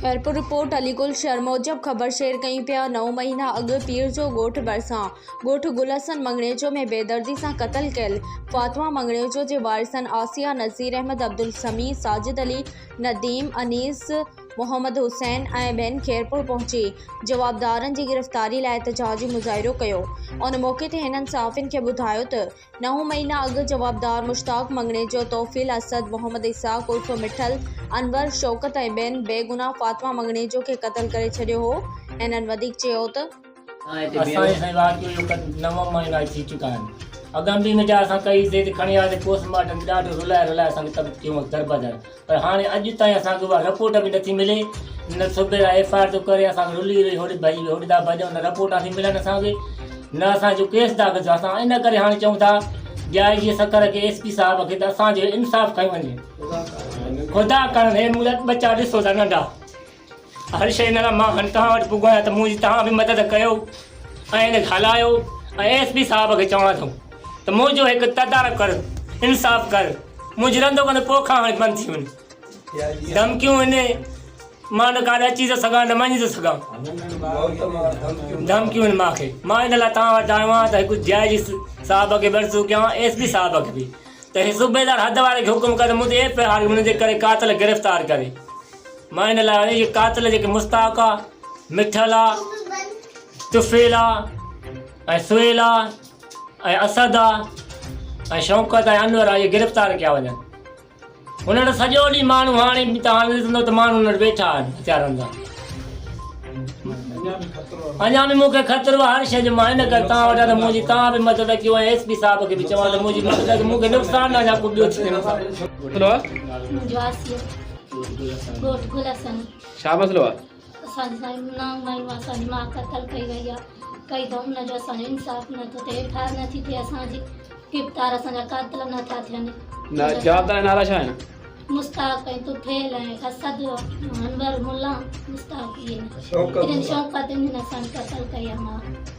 Khairpur, report, Ali Gul Shar موجب خبر share ڪيون پيا، نو مهينا اڳ پير جو ڳوٺ ڀرسان ڳوٺ گل حسن مڱڻيجو ۾ بيدردي سان قتل ڪيل فاطمه مڱڻيجو جي وارثن عاصيه، نذير احمد، عبدالسميع، ساجد علي، نديم، انيس، محمد حسين ۽ ٻين خيرپور پهچي جوابدارن جي گرفتاري لاء احتجاجي مظاهرو ڪيو، ان موقعي تي هنن صحافين کي ٻڌايو ته. نو مهينا اڳ جوابدار مشتاق مڱڻيجو، توفيل اسد، محمد اسحاق عرف مٺل، انور، شوڪت ۽ ٻين بي گناهه فاطمه مڱڻيجو کي قتل ڪري ڇڏيو هو. هنن وڌيڪ چيو ته. اسان جي سائين واقعي جو نو مهينا اڄ ٿي چڪا آهن. اڳ انبيهه نجار اسان ڪئي، زيد کڻي آيو ته پوسٽ مارٽم به ڏاڍو رلائي رلائي اسان کي تبت ڪيون دربدر. پر هاڻي اڄ تائين اسان کي اها رپورٽ به نٿي ملي نه صوبي لاء ايف آء آر ٿو ڪري اسان کي رلي رلي هوڏي ڀڄ هوڏي تان ڀڄون نه رپورٽ نٿي ملن اسان کي نه اسان جو ڪيس داخل ٿيو اسان ان ڪري هاڻي چئون ٿا ڊي آء جي سکر کي ايس پي صاحب کي ته اسان جو انصاف ڪيو وڃي خدا ڪرڻ هي مون لاء ٻچا ڏسو ٿا ننڍا هر شيء لاء مان هاڻي توهان وٽ پڳو آهيان ته منهنجي توهان به مدد ڪيو ۽ هن کي هلايو ۽ ايس پي صاحب کي چوان ٿو ته منهنجو هڪ تدارڪ ڪر انصاف ڪر منهنجي رندو ڪندو پوء کان هاڻي بند ٿي وڃ ڌمڪيون هن مان نه ڪاڏ اچي ٿو سگهان نه وڃي ٿو سگهان ڌمڪيون هن مان کي مان ان لاء توهان وٽ آيو آهيان ته هڪ جي آء جي صاحب کي به عرضو ڪيان ايس پي صاحب کي به ته هي صوبيدار حد واري کي حڪم ڪر ته منهنجي ايف آء آر منهنجي ڪري قاتل گرفتار ڪري مان ان لاء آيو جو قاتل جيڪي مستاق آ مٺل آ طفيل آ ۽ سهيل آ ۽ اسد آ ۽ شوڪت ۽ انور آ اهي گرفتار ڪيا وڃن انهن وٽ سڄو ڏينهن ماڻهو هاڻي به تان ڏسندو ته ماڻهو انهن وٽ ويٺا آهن هٿيارن سان اڃا به مون کي خطرو هر شي جو مان ان ڪري تان وٽ ته منهنجي تان به مدد ڪيو ۽ ايس پي صاحب کي به چوان ته منهنجي مدد ڪيو مون کي نقصان نه اڃا ڪو ٻيو ٿي وڃي ڳوٺ گل حسن ڇا مسئلو آ؟ اسان سائين نانگ مايون اسان جي ماء قتل ڪئي وئي آ ڪئي ته ان جو اسان جو انصاف نه ٿو ٿئي ايف آء آر نه ٿي ٿئي اسان جي گرفتار اسان جا قاتل نه ٿا ٿين نه جوابدار نالا ڇا آهن مستاق ۽ طفيل ۽ اسد انور ملا مستاق ائين شوڪت انهن اسان قتل ڪئي آ ماء